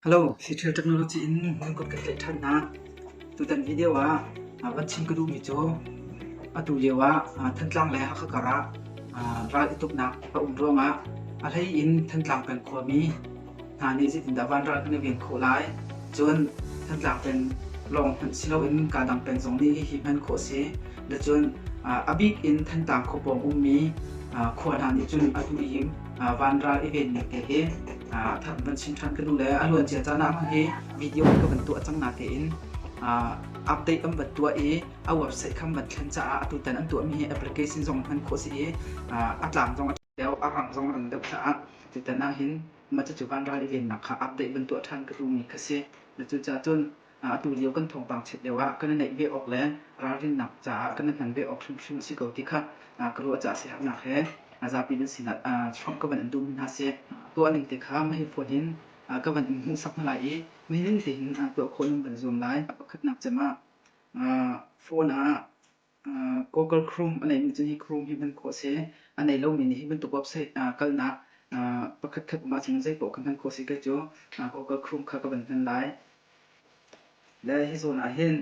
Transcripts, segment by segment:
Hello, Seattle Technology in Mangkut kan tlaih ṭhan hna. Tutan video ah ah, van chim ka duhmi cu atu lio ah ah, Thantlang le Hakha kar ah ah, ral i tuknak a um ruangah a hlei in Thantlang peng khuami hna nih zeitindah van ral kan i ven khawh lai. Cun Thantlang peng lawng hmanh si loin kaa dang peng zong nih hihi hman khawh a si. Lecun ah, a bik in Thantlang khua pawng ummi ah, khua hna nih cun atu ihim van ral i vennak te hi that van chin than kanu le a luan cia cana ma hi video ka van tuah cang na te in update kan van tuah i a website kham van thlen ca ah atu tan an tuah mi hi application zong hman kho si i a tlang zong a deu a rang zong an deu tha ti tan ah hin ma chu van ral i vennak kha update van tuah than ka tu mi kha si na cu cha cun atu lio kan thawngpang chiat lio ah kan i naih ve awk le ralrinnak caah kan i hman ve awk hrimhrim a si ko ti kha ka ruah caah siaherhnak he zapi nan sinah chuah ka van in duhmi hna seh, tuahning te kha mah hi phone in ka van in hmuhsak hna lai i nining tein tuah khawh nan van zuam lai. Pakhatnak cem ah phone ah Google Chrome a neihmi cu hi Chrome hi hman khawh a si. A nei lomi nih hi bantuk website kalnak pakhatkhat um ahcun zeipoah ka hman khawh a si. Kei cu Google Chrome kha ka van hman lai. Le hi zawn ah hin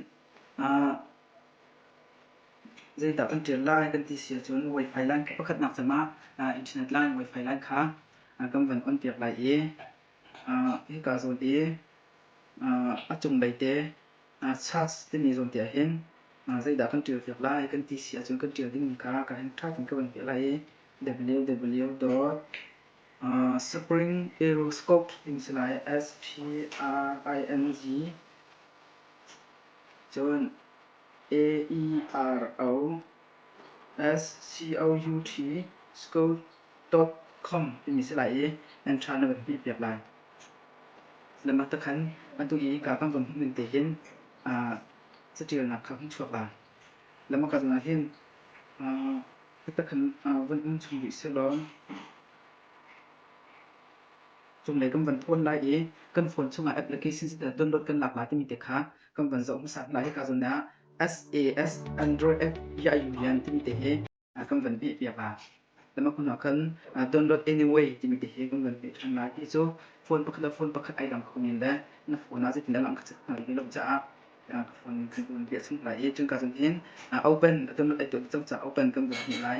zeidah kan ṭial lai kan ti si ahcun Wi-Fi line pakhatnak cem ah Internet line Wi-Fi line kha kan van on piak lai i Kaa zawn i a cunglei te SARS timi zawn te ahhin zeidah kan ṭialpiak lai kan ti si ahcun kan ṭial dingmi kha ka heng ṭha tein ka van piah lai i www.springaeroscope timi si lai S-P-R-I-N-G cun A-E-R-O S-C-O-U-T scope top com timi si lai i nan tha na van hmih piak lai. Lamah ta khan atu i ka kan von hmuh te hin catialnak kha kan chuak lai. Lama kal ah hin ta khan von um chung rih selaw cunglei kan van thawn lai i kan phone chungah application si download kan lak lai timi te kha kan van zoh hmasa lai. Hika zawn ah SAS Android app ya yu yan timi te hi kan van peh piak a. Lama kun ah khan don't load anyway timi te hi kan van peh than lai ti cu phone pakhat le phone pakhat ai lang kho men le na phone ah zeitin dah lang ka chat hna rih lo caah ka phone kan kan peh chung lai i cungka zan hin open don't load ai tuah cang caah open kan van peh lai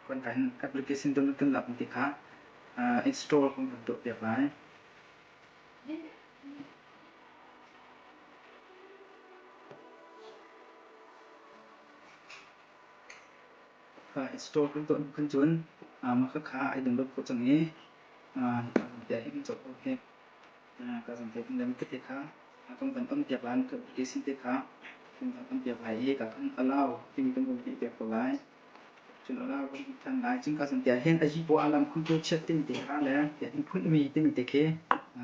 kan kan application don't load kan lak ti kha install kan van tuah piak lai store kan tuah hnu khan cun khakha ai dang lo khawh cang i ka zampiah hi ka cohlo hek ka zampiah pin le mi tete kha kan van ampiak lai mi application te kha kan van ampiak lai i ka kan allow timi kan vun theih piak ko lai cun allow kan hmuh than lai cun ka zampiah hin a yipaw a lam khun cu chiat timi te kha le a hung phun mi timi te khi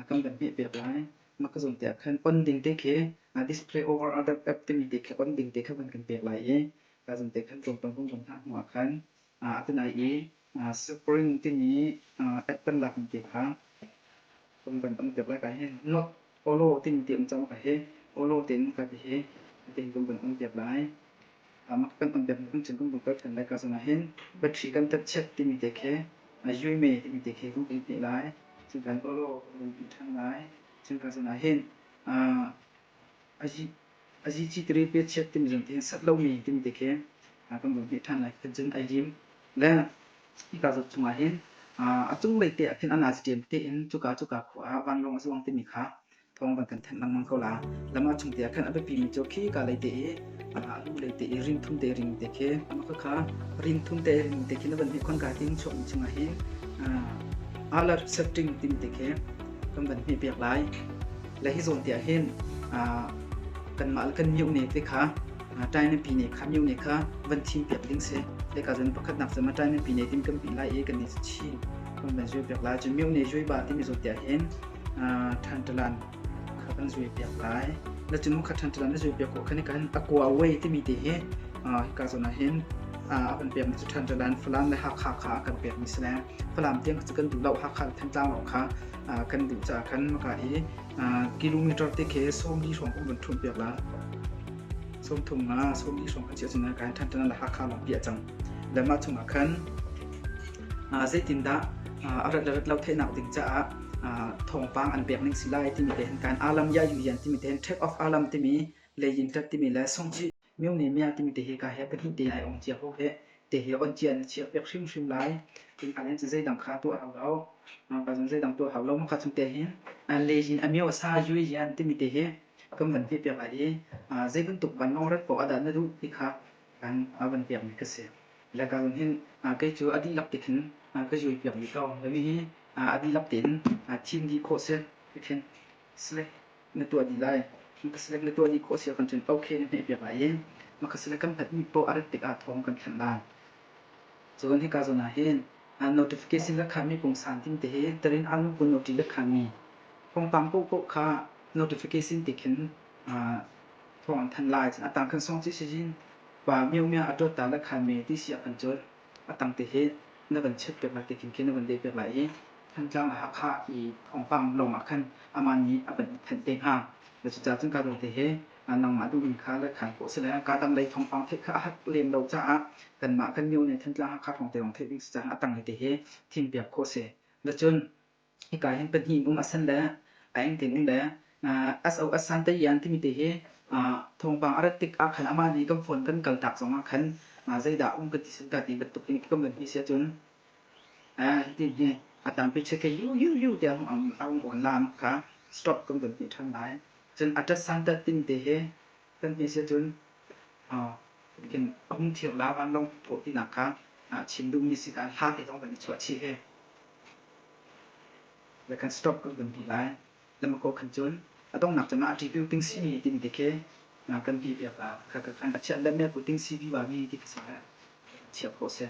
kan van hmeh piak lai Makazon te ah khan on ding te khi display over other app timi te khi on ding te kha van kan pek lai i Kazon te khan tlawmpal hnawmhnawm hna hnu ah khan atunai i Spring timi app kan lak mi te kha kan van on piak lai ka hin not olo timi te um cang ka hi olo tein ka ti hi tein kan van on piak lai. Amah kan tam bik cun kum kul kan let ko cang ahhin battery kan tat chiat timi te khi a yuime timi te khi kan theih lai. Cun kan awlaw kan ti ṭhan lai. Cun ka cun ahhin a zicitiri pe chiat timi zong te sat lomi timi te khi kan vun theih ṭhan lai. Cun ai lim le hika zok chung ahhin a cunglei te ahkhin a nazi ṭem tein cuka cuka khua ah vanlawng a zuang timi kha thawng bang kan thanh lengmang ko la lam a chung te ah khan a biapi mi cu khi ka lei te i a nu lei te i rin thum te ring te khi ama kha kha rin thum te ring te khi na van hi khon ka ting chuak mi chunga hi alar setting tim te khi kan van hi biak lai la hi zon te ah hin kan mal kan miu ne te kha tai ne pi ne kha miu ne kha van thim piak ding se le ka zan pakhat nak sama tai ne pi ne tim kan pi lai e kan ni chi kan van zui piak lai chu miu ne zui ba ti mi zo te ah hin ṭhanṭalan kha kan zulpiak lai. Na cunung kha ṭhanṭalan na zulpiak khawh khan kan a kua away timi ti hi hika zawn ah hin a kan pekmi cu ṭhanṭalan Falam le Hakha kha a kan pekmi si le Falam tiang cu kan duh lo Hakha le Thantlang lawng kha kan duh caah khan maka i kilometer te khe sawmli hrawng kan vun ṭhumpiak la sawm thum nga sawmli hrawng kan si ahcun kan ṭhanṭalan le Hakha lawng hi a cang le mah chungah khan zeitindah a rat le rat lo theihnak ding caah thawngpang an pek ning si lai timi te hin kan alam ya yu hian timi te hin track of alam timi lei in tat timi le songji myo ne mya timi te hi ka he pahnih te ai ong chia ho he te hi on chia na chia pek hrim hrim lai in alen chi zeidang kha to hau lo ka zun zeidang to hau lo mo kha chung te hin le in amyo sa yu hian timi te hi kan van hi pek ai zeibun tuk van ong rat ko ada na du ti kha kan van pek mi ka si Lekang hninh kei cu a dihlak te khin ka zuai piak dih ko. Nihi a dihlak tein thim dih khawh si hi khin Select na tuah dih lai. Ka Select na tuah dih khawh si ah khan cun OK na hmeh piak lai i ka Select kan hlatmi poah a rat tik ah thawng kan thanh lai. Cun hika zawn ah hin Notification rak khanmi pungsan tin te hi Tarin Alungpun OT rak khanmi thawngpang paohpaoh kha Notification te khin thawng an thanh lai. Cun a tangkhan sawng cu Sijin Pa Miaumia a ṭawt ta le khan mee ti si a kan colh. A tang te hi na van chiat piak lai te khin khi na van leh piak lai i Thantlang a Hakha i thawngpang lawng ah khan amah nih a van in thanh te hnga. Na cucaah cun ka ruate hi nangmah duhning kha leikhan ko seh le kaa dang lei thawngpang theih kha a hat lem lo caah kanmah kan Miaumia Thantlang Hakha hrawngte lawng theih ding si caah a tang hi te hi thim piak ko seh. Na cun hika hin pahnih um a san le a eng tin um le SO a san te ian timi te hi thawngpang a rat tik ah khan amah nih kan phone kan kal tak zong ah khan zeidah um kan ti sim ta ti bantuk in ka man hi si cun hi tin hi a tampi check yu yu yu tiang a um online kha stop kan kan ti than lai cun atas santa tin te hi kan hne siah cun kan hungthiang la vanlawng pawh tinak kha chim duhmi si caah hla he zong kan i chuah chih ve. Le kan stop kan kan ti lai. Lamakaw khan cun a donghnak cun a ṭitu ting simi timi te khi kan ti piak a ka kan chiah le me ku ting si viva mi ti ka sa le chiap ko seh.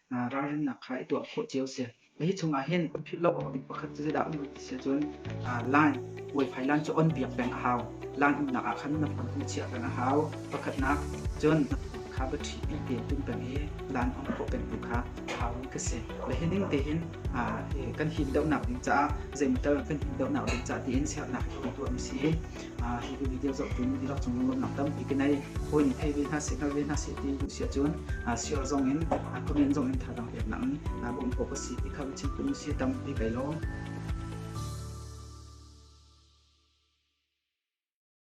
ralrinnak kha i tuah khawh cio a si. Hi chungah hin philh lo awk pakhat cu zeidah dah ti si ahcun line, Wi-Fi line cu on piak peng a hau. Line umnak ah khan na hmun hung chiah peng a hau. Pakhatnak, cun na phone kha battery pi tein pumh peng i line on khawh peng tu kha a haumi ka si. Le hi ning tehin kan him deuhnak ding caah, zei motor kan him deuhnak ding caah tiin sernak hi kan tuah mi si. hitin video zoh tiin rak cung lunglamnak tampi ka nei hawi nih thei ve hna seh kal ve hna seh ti duh siah cun share zong in comment zong in thazaang pek nak in bawm ko ka si ti kha chim tu si tampi kai lawm